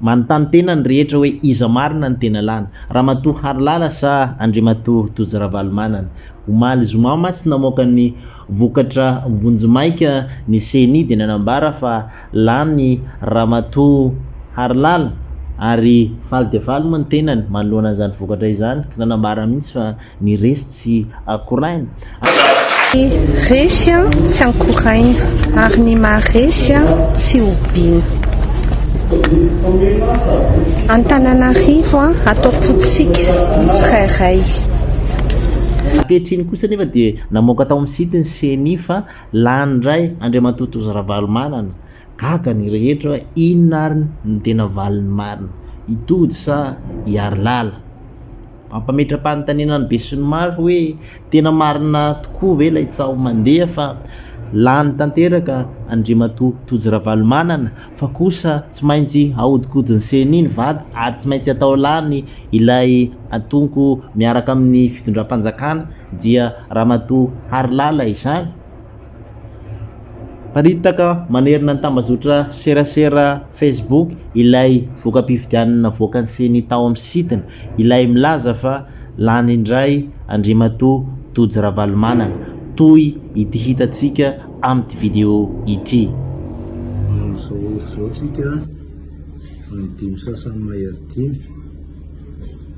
Manontany tena ny rehetra hoe iza marina ny tena lany, Ramatoa Harilala sa Andriamatoa Tojo Ravalomanana? Omaly zoma mantsy tsy namoaka ny vokatra vonjimaika ny ceni dia nanambara fa lany Ramatoa Harilala ary faly dia faly moa ny tenany manoloana an'izany vokatra izany ka nanambara mihitsy fa Ny resy tsy akoraina. Ny resy tsy ankoraina. Ary ny maha-resy tsy hobiana. Antananarivo atao potika ny tsirairay. Ankehitriny kosa anefa dia namoaka tao amin'ny site ny ceni fa lany indray Andriamatoa Tojo Ravalomanana. Gaga ny rehetra hoe inona ary no tena valiny marina? I Tojo sa i Harilala? Mampametra-panontaniana ny besinimaro hoe tena marina tokoa ve ilay tsaho mandeha fa lany tanteraka Andriamatoa Tojo Ravalomanana fa kosa tsy maintsy ahodikodin'ny ceni ny vady ary tsy maintsy atao lany ilay atonko miaraka amin'ny fitondram-panjakana dia Ramatoa Harilala izany? Mparitaka manerana ny tambazotra serasera Facebook ilay voka-pifidianana navoaka ny Ceni tao amin'ny site-ny, ilay milaza fa lany indray Andriamatoa Tojo Ravalomanana, toy ity hitantsika amin'ity video ity. Amin'izao izao isika amin'ny dimy sasany mahery dimy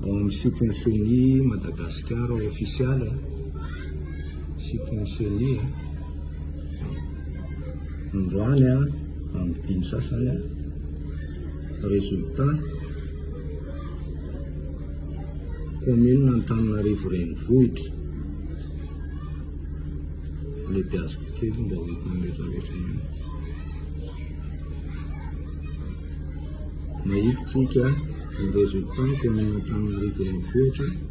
ao amin'ny site-ny Ceni Madagasikara ofisialy. Site ny ceni a. Androany a amin'ny dimy sasany a. Résultat, Commune Antananarivo Renivohitra. Alebiaziko kely mba ho hitan'ny rehetra rehetra ihany. Mahitsy tsika ny résultat ny Commune Antananarivo Renivohitra.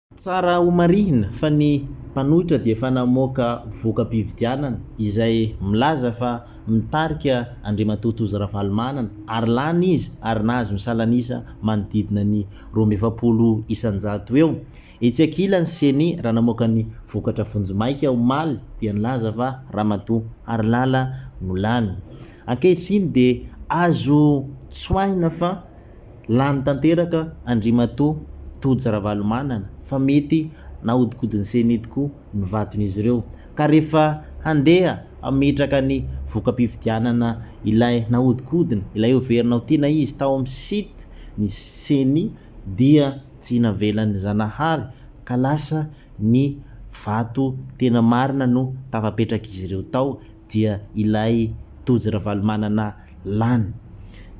Tsara homarihina fa ny mpanohitra dia efa namoaka voka-pividianana izay milaza fa mitarika Andriamatoa Tojo Ravalomanana ary lany izy ary nahazo ny salan'isa manodidina ny roa amby efapolo isan-jato eo. Etsy ankilany ny Ceni raha namoaka ny vokatra vonjimaika omaly dia nilaza fa Ramatoa Harilala no lany. Ankehitriny dia azo tsoahina fa. Lany tanteraka Andriamatoa Tojo Ravalomanana fa mety nahodikodin'ny ceni tokoa ny vaton'izy ireo ka rehefa handeha hametraka ny voka-pifidianana ilay nahodikodina, ilay heverina ho tiana izy tao amin'ny site ny ceni dia tsy navelan'i Zanahary ka lasa ny vato tena marina no tafapetrak'izy ireo tao dia ilay Tojo Ravalomanana lany.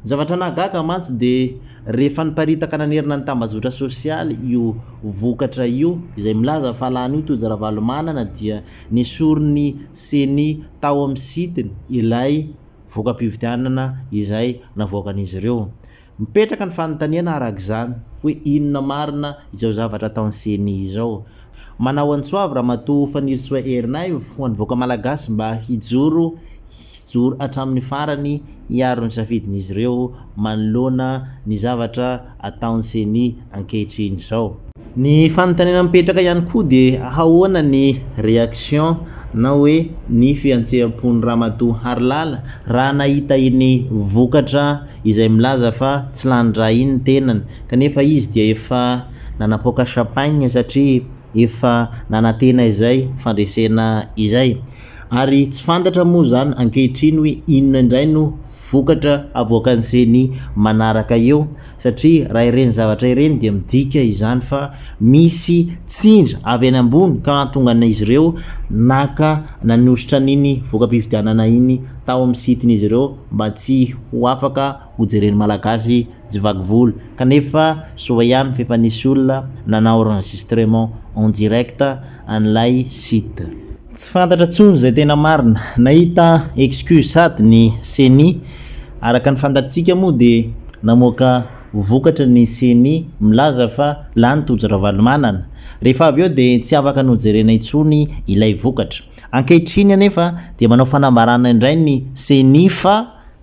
Ny zavatra nahagaga mantsy dia rehefa niparitaka nanerana ny tambazotra sosialy io vokatra io izay milaza fa lany io Tojo Ravalomanana dia nesorin'ny ceni tao amin'ny sitiny ilay voka-pifidianana izay navoakan'izy ireo. Mipetraka ny fanontaniana araka izany hoe inona marina izao zavatra ataon'ny ceni izao. Manao antsoavy Ramatoa Fanirisoa Ernaivo ho an'ny vahoaka Malagasy mba hijoro hijoro hatramin'ny farany hiaro ny safidin'izy ireo manoloana ny zavatra ataon'ny ceni. ankehitriny izao. Ny fanontaniana mipetraka ihany koa dia ahaona ny reaction na hoe ny fiantseham-pon'i Ramatoa Harilala raha nahita iny vokatra izay milaza fa tsy lanin-dra iny ny tenany kanefa izy dia efa nanapoaka champagne satria efa nanantena izay fandresena izay. Ary tsy fantatra moa izany ankehitriny hoe inona indray no vokatra havoakan'ny ceni manaraka eo, satria raha ireny zavatra ireny dia midika izany fa misy tsindry avy any ambony ka nahatongan'izy ireo naka nanositra an'iny voka-pifidianana iny tao amin'ny site-n'izy ireo mba tsy ho afaka hojeren'ny Malagasy Tsy vaky volo. Kanefa soa ihany fa efa nisy olona nanao enregistrement en direct an'ilay site. Tsy fantatra tsony izay tena marina. Nahita excuse sady ny ceni. Araka ny fantatsika moa dia namoaka vokatra ny ceni milaza fa lany Tojo Ravalomanana. Rehefa avy eo dia tsy afaka nojerena intsony ilay vokatra. Ankehitriny anefa dia manao fanambarana indray ny ceni fa.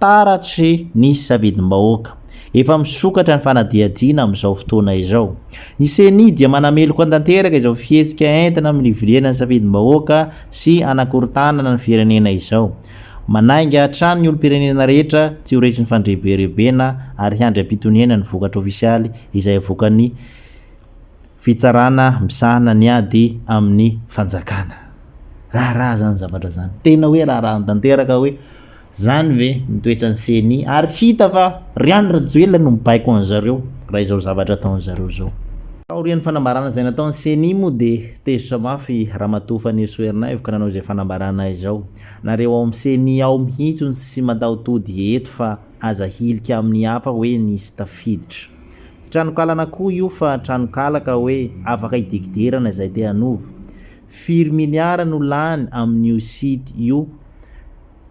Taratry ny safidim-bahoaka. Efa misokatra ny fanadihadiana amin'izao fotoana izao. Ny Ceni dia manameloka tanteraka izao fihetsika entina mirivoriana ny safidim-bahoaka sy hanakorontanana ny firenena izao. Manainga hatrany ny olom-pirenena rehetra tsy ho resin'ny fandrebirebena ary hiandry am-pitoniana ny vokatra ofisialy izay avoakan'ny Fitsarana misahana ny ady amin'ny fanjakana. Raharaha izany zavatra izany. Tena hoe raharaha tanteraka hoe. Zany ve ny toetran'ny ceni ary hita fa ry Andry Rajoelina no mibaiko an'zareo raha izao zavatra ataon'zareo zao. Taorian'ny fanambarana izay nataon'ny ceni moa dia tezitra mafy ramatoa Fanirisoa Ernaivo ka nanao izay fanambarana izao, nareo ao amin'ny ceni ao mihitsy no tsy matahotody eto fa aza hilika amin'ny hafa hoe nisy tafiditra tranokalana koa io fa tranokala ka hoe afaka hidekiderana izay te hanova, firy miliara no lany amin'io site io?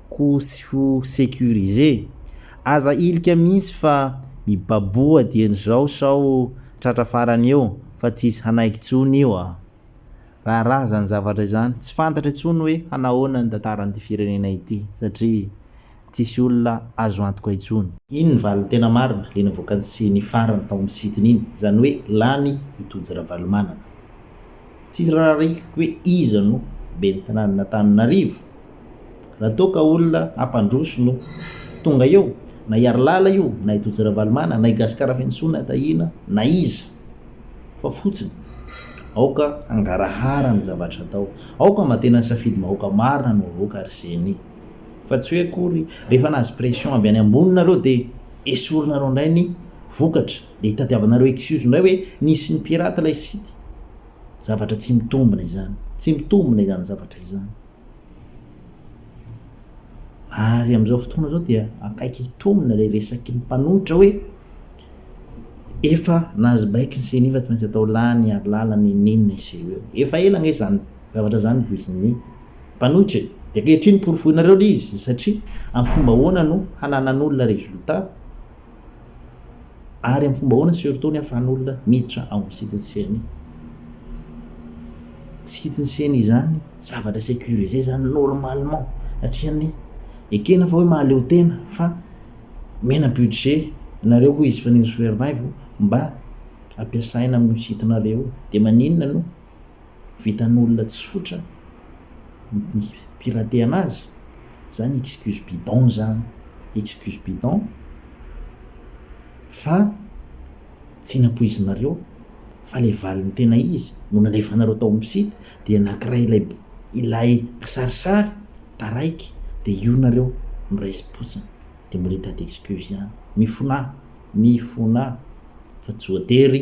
ko sy ho securiser. Aza hilika mihintsy fa mibaboha dieny zao sao tratra farany eo fa tsisy hanaiky tsony io a! Raharaha zany zavatra izany, tsy fantatra intsony hoe hanahoana ny tantaran'ity firenena ity satria tsisy olona azo antoka intsony. Iny ny valiny tena marina le navoakany sy nifarany tao amin'ny site-ny iny, izany hoe lany i Tojo Ravalomanana. Tsy rarahiko hoe iza no ben'ny tanànan'Antananarivo Raha toa ka olona hampandroso no tonga eo, na i Harilala io, na i Tojo Ravalomanana, na i Gascar Rafentsona Tahiana, na iza, fa fotsiny, aoka hangarahara ny zavatra atao, aoka mba tena safidim-bahoaka marina no avoaka ary ceni, fa tsy hoe akory rehefa nahazo pression avy any ambony nareo dia esorinareo indray ny vokatra, dia hitadiavanareo excuse indray hoe nisy ni-pirate ilay site, zavatra tsy mitombina izany, tsy mitombina izany zavatra izany. Ary amin'izao fotoana izao dia akaiky hitombina ilay resaky ny mpanohitra hoe efa nahazo baiko ny ceni fa tsy maintsy atao lany ary lalana in'inona i ceo. Efa ela ange izany zavatra izany no voizin'ny mpanohitra e! Dia ankehitriny porofoinareo ilay izy satria amin'ny fomba ahoana no hananan'olona résultat Ary amin'ny fomba ahoana surtout ny ahafahan'olona miditra ao amin'ny site-n'ny ceni? Site-n'ny ceni izany zavatra securisé izany normalement satria ny ekena fa hoe mahaleo tena fa omena budget nareo hoy izy fa ny ny soervaivo mba ampiasaina amin'io site-nareo io dia maninona no vitan'olona tsotra ny piratehana azy zany excuse bidon zany excuse bidon fa tsy nampoizinareo fa le valiny tena izy no nalefanareo tao am site dia nakiray ilay ilay kisarisary taraiky dia io nareo no raisy potsiny dia mbola hitady excuse ihany mifonà mifonà fa tsy voatery